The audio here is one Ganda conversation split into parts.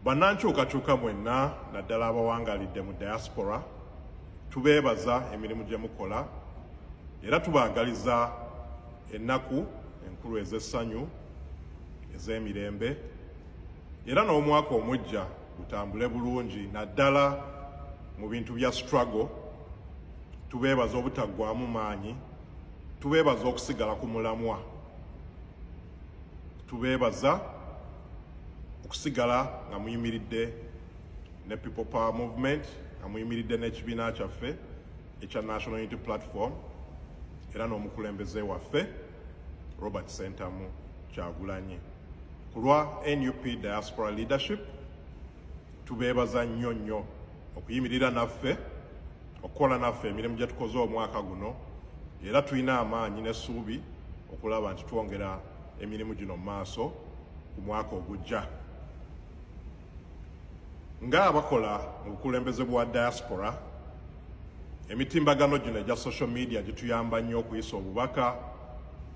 bannankyukakyuka mwenna naddala abawangalidde mu diaspora tubeebaza emirimu gye mukola era tubaagaliza ennaku enkulu ez'essanyu ez'emirembe era n'omwaka omujja gutambule bulungi naddala mu bintu bya struggle tubeebaza obutaggwamu maanyi tubeebaza okusigala ku mulamwa tubeebaza okusigala nga muyimiridde ne people power movement nga muyimiridde n'ekibiina kyaffe ekya national unity platform era n'omukulembeze waffe robert sentamu kyagulanyi ku lwa nup diaspora leadership tubeebaza nnyo nnyo okuyimirira naffe okukola naffe emirimu gye tukoze omwaka guno era tulina amaanyi n'essuubi okulaba nti twongera emirimu gino mu maaso ku mwaka ogujja nga abakola mu bukulembeze bwa diaspora emitimbagano gino egya social media gituyamba nnyo okuyisa obubaka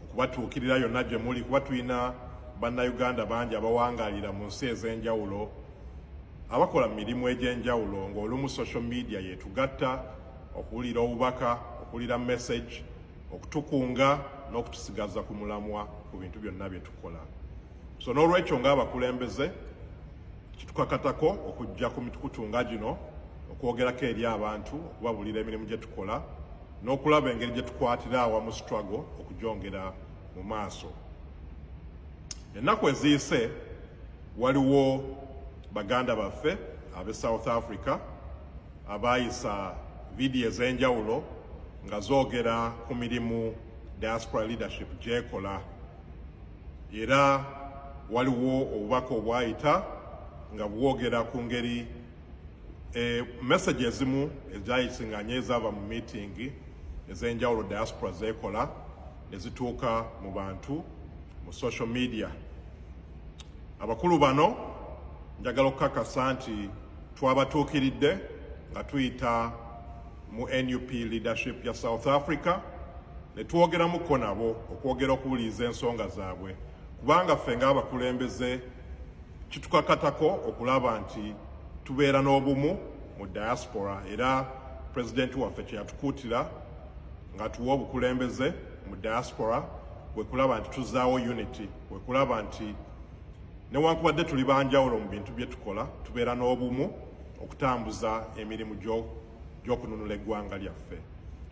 okubatuukirira yonna gye muli kuba tulina bannayuganda bangi abawangalira mu nsi ez'enjawulo Abakola mu mirimu egy'enjawulo ng'olumu social media yetugatta okuwulira obubaka, okuwulira message, okutukunga n'okutusigaza ku mulamwa ku bintu byonna bye tukola. So n'olwekyo ng'abakulembeze kitukakatako okujja ku mitukutu nga gino okwogerako eri abantu okubabuulira emirimu gye tukola n'okulaba engeri gye tukwatira awamu struggle okugyongera mu maaso ennaku eziyise Waliwo baganda baffe ab'e South Africa abaayisa vidiyo ez'enjawulo nga zoogera ku mirimu Diaspora Leadership gyekola era waliwo obubaka obwayita nga bwogera ku ngeri e, message ezimu ezayisinganye ezaava mu miitingi ez'enjawulo diaspora zeekola ne zituuka mu bantu mu social media Abakulu bano njagala okukakasa nti twabatuukiridde nga tuyita mu nup leadership ya south africa ne twogeramuko nabo okwogera okuwuliriza ensonga zaabwe kubanga ffe ng'abakulembeze kitukakatako okulaba nti tubeera n'obumu mu diaspora era pulezidenti waffe kyeyatukuutira ng'atuwa obukulembeze mu diaspora kwe kulaba nti tuzaawo unity kwe kulaba nti newankubadde tuli banjawulo mu bintu bye tukola tubeera n'obumu okutambuza emirimu gy'okununula eggwanga lyaffe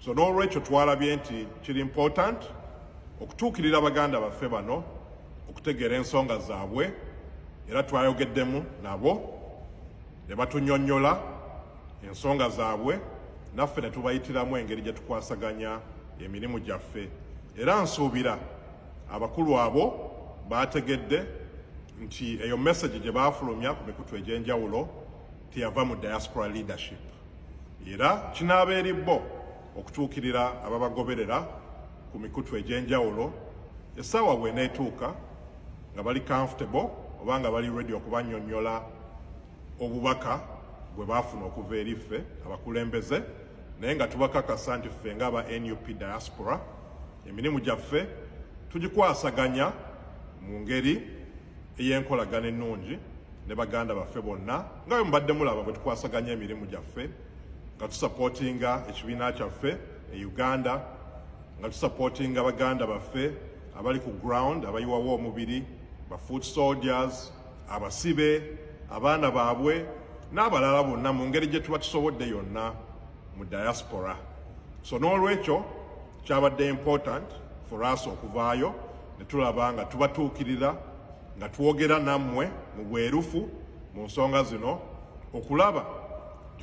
so n'olwekyo twalabye nti kiri important okutuukirira baganda baffe bano okutegeera ensonga zaabwe era twayogeddemu nabo ne batunyonnyola ensonga zaabwe naffe ne tubayitiramu engeri gye tukwasaganya emirimu gyaffe era nsuubira abakulu abo baategedde nti eyo message gye baafulumya ku mikutu egy'enjawulo teyava mu diaspora leadership era kinaaba eri bo okutuukirira ababagoberera ku mikutu egy'enjawulo essaawa bw'eneetuuka nga bali comfortable oba nga bali ready okubanyonyola obubaka bwe baafuna okuva eri ffe abakulembeze naye nga tubakakasa nti ffe nga aba nup diaspora emirimu gyaffe tugikwasaganya mu ngeri ey'enkolagana ennungi ne baganda baffe bonna nga bwe mubadde mulaba bwe tukwasaganya emirimu gyaffe nga tusapootinga ekibiina kyaffe e uganda nga tusapootinga baganda baffe abali ku ground abayiwawo omubiri ba foot soldiers abasibe abaana baabwe n'abalala bonna mu ngeri gye tuba tusobodde yonna mu diaspora so n'olwekyo kyabadde important for us okuvaayo ne tulaba nga tubatuukirira nga twogera nammwe mu bwerufu mu nsonga zino okulaba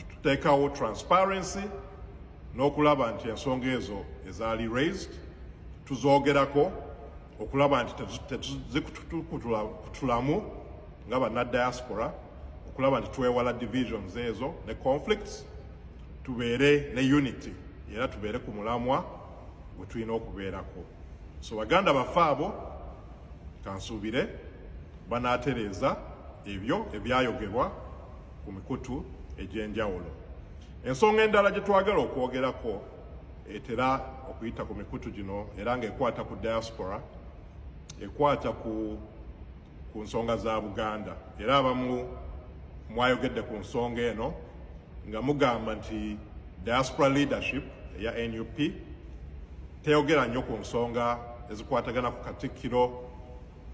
tuteekawo transparency n'okulaba nti ensonga ezo ezaali raised tuzoogerako okulaba nti tetuzikutulamu nga banna diaspora okulaba nti twewala divisions ezo ne conflicts tubeere ne unity era tubeere ku mulamwa gwe tulina okubeerako so baganda baffe abo kansuubire banaatereeza ebyo ebyayogerwa ku mikutu egy'enjawulo ensonga endala gye twagala okwogerako etera okuyita ku mikutu gino era ng'ekwata ku diaspora ekwata ku ku nsonga za Buganda era abamu mwayogedde ku nsonga eno nga mugamba nti diaspora leadership eya nup teyogera nnyo ku nsonga ezikwatagana ku katikkiro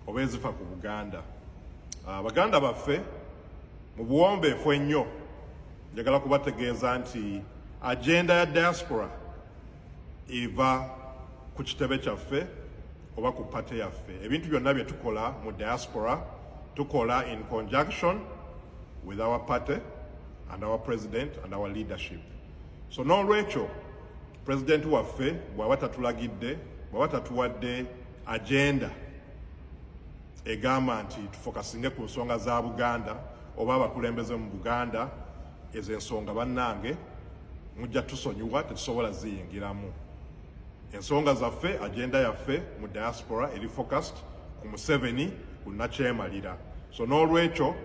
oba ezifa ku buganda abaganda ah, baffe mu buwombeefu ennyo njagala kubategeeza nti agenda ya diaspora eva ku kitebe kyaffe oba ku pate yaffe ebintu byonna bye tukola mu diaspora tukola in conjunction with our party and our president and our leadership so n'olwekyo president waffe bw'aba tatulagidde bw'aba tatuwadde agenda egamba nti tufokasinge ku nsonga za Buganda oba abakulembeze mu Buganda ezo ensonga bannange mujja tusonyiwa tetusobola ziyingiramu ensonga zaffe agenda yaffe mu diaspora eri focused ku Museveni ku nakyemalira so n'olwekyo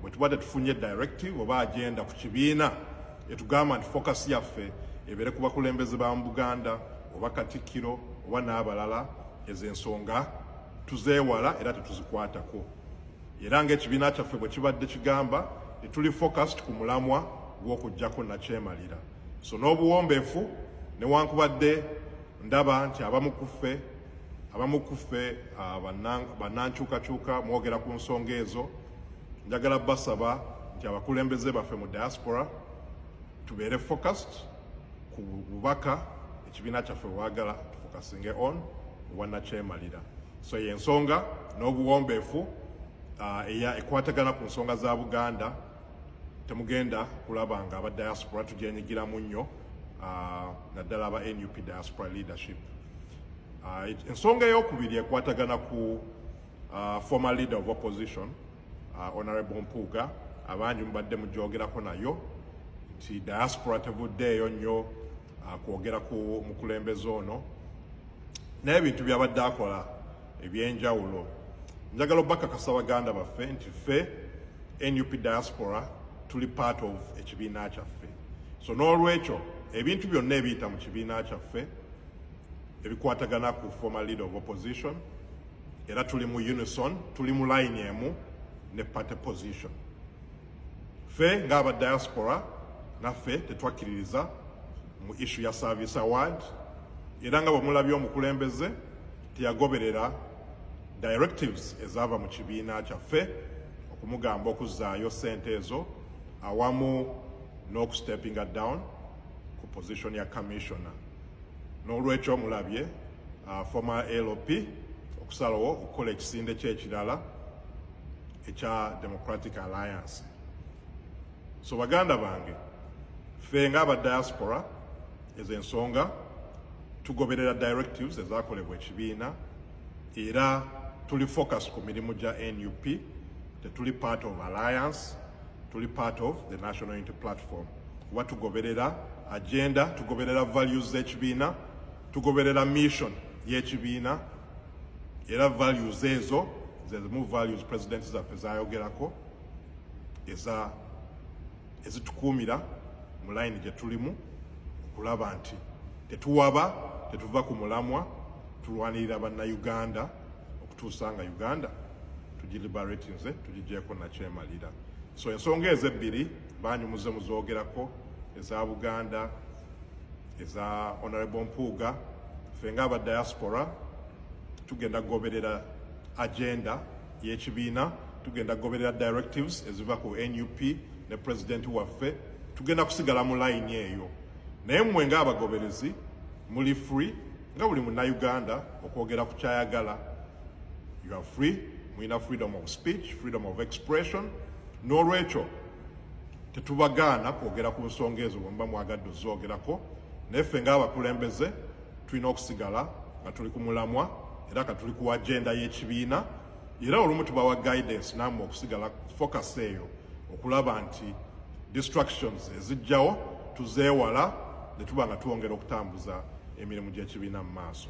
bwe tuba tetufunye directive oba agenda ku kibiina etugamba nti focus yaffe ebeere ku bakulembeze ba mu Buganda oba Katikkiro oba n'abalala ezo ensonga tuzeewala era tetuzikwatako era ng'ekibiina kyaffe bwe kibadde kigamba tetuli focused ku mulamwa gw'okuggyako nakyemalira so n'obuwombeefu newankubadde ndaba nti abamu ku ffe abamu ku ffe ah, bannankyukakyuka mwogera ku nsonga ezo njagala basaba nti abakulembeze baffe mu diaspora tubeere focused ku bubaka ekibiina kyaffe wagala tufokasinge on wanakyemalira so yensonga n'obuwombeefu uh, eya ekwatagana ku nsonga za buganda temugenda kulaba nga aba diaspora tugyenyigiramu nnyo uh, naddala aba nup diaspora leadership uh, ensonga eyokubiri ekwatagana ku former leader of opposition honorable mpuuga abangi mubadde mugyogerako nayo nti diaspora tevuddeeyo nnyo ah, kwogera ku mukulembeze ono naye ebintu byabadde akola ebyenjawulo njagala obakakasa baganda baffe nti ffe nup diaspora tuli part of ekibiina kyaffe so n'olwekyo ebintu byonna ebiyita mu kibiina kyaffe ebikwatagana ku former leader of opposition era tuli mu unison tuli mu line emu ne party position ffe ng'aba diaspora naffe tetwakkiririza mu ishu ya service award era nga bwemulabye omukulembeze teyagoberera directives ezaava mu kibiina kyaffe okumugamba okuzzaayo sente ezo awamu n'okusteppinga down ku position ya commissioner n'olwekyo mulabye uh, former lp okusalawo okukola ekisinde kyekirala ekya democratic alliance so baganda bange ffe nga aba diaspora ezo ensonga tugoberera directives ezakolebwa ekibiina era tuli focus ku mirimu gya nup tetuli part of alliance tuli part of the national unity platform kuba tugoberera agenda tugoberera values z'ekibiina tugoberera mission y'ekibiina era values ezo zezimu values president zaffe zayogerako eza ezitukuumira mu layini gye tulimu okulaba nti tetuwaba tetuva ku mulamwa tulwanirira bannayuganda okutuusa nga uganda tugilibaratinze tugigyeko nakyemalira so ensonga ezo ebbiri banyumuze muzoogerako eza buganda eza honorable mpuuga ffe nga aba diaspora tugenda kugoberera agenda y'ekibiina tugenda kugoberera directives eziva ku nup ne pulezidenti waffe tugenda kusigala mu layini eyo naye mmwe ng'abagoberezi muli free nga buli munnayuganda okwogera ku kyayagala you are free mulina freedom of speech freedom of expression n'olwekyo tetubagaana kwogera ku nsonga ezo bwemuba mwagadde ozoogerako naye ffe ngaabakulembeze tulina okusigala nga tuli ku mulamwa era ka tuli ku agenda y'ekibiina era olumu tubawa guidance naamwe okusigala focus eyo okulaba nti distractions ezijjawo tuzeewala ne tuba nga twongera okutambuza emirimu gy'ekibiina mu maaso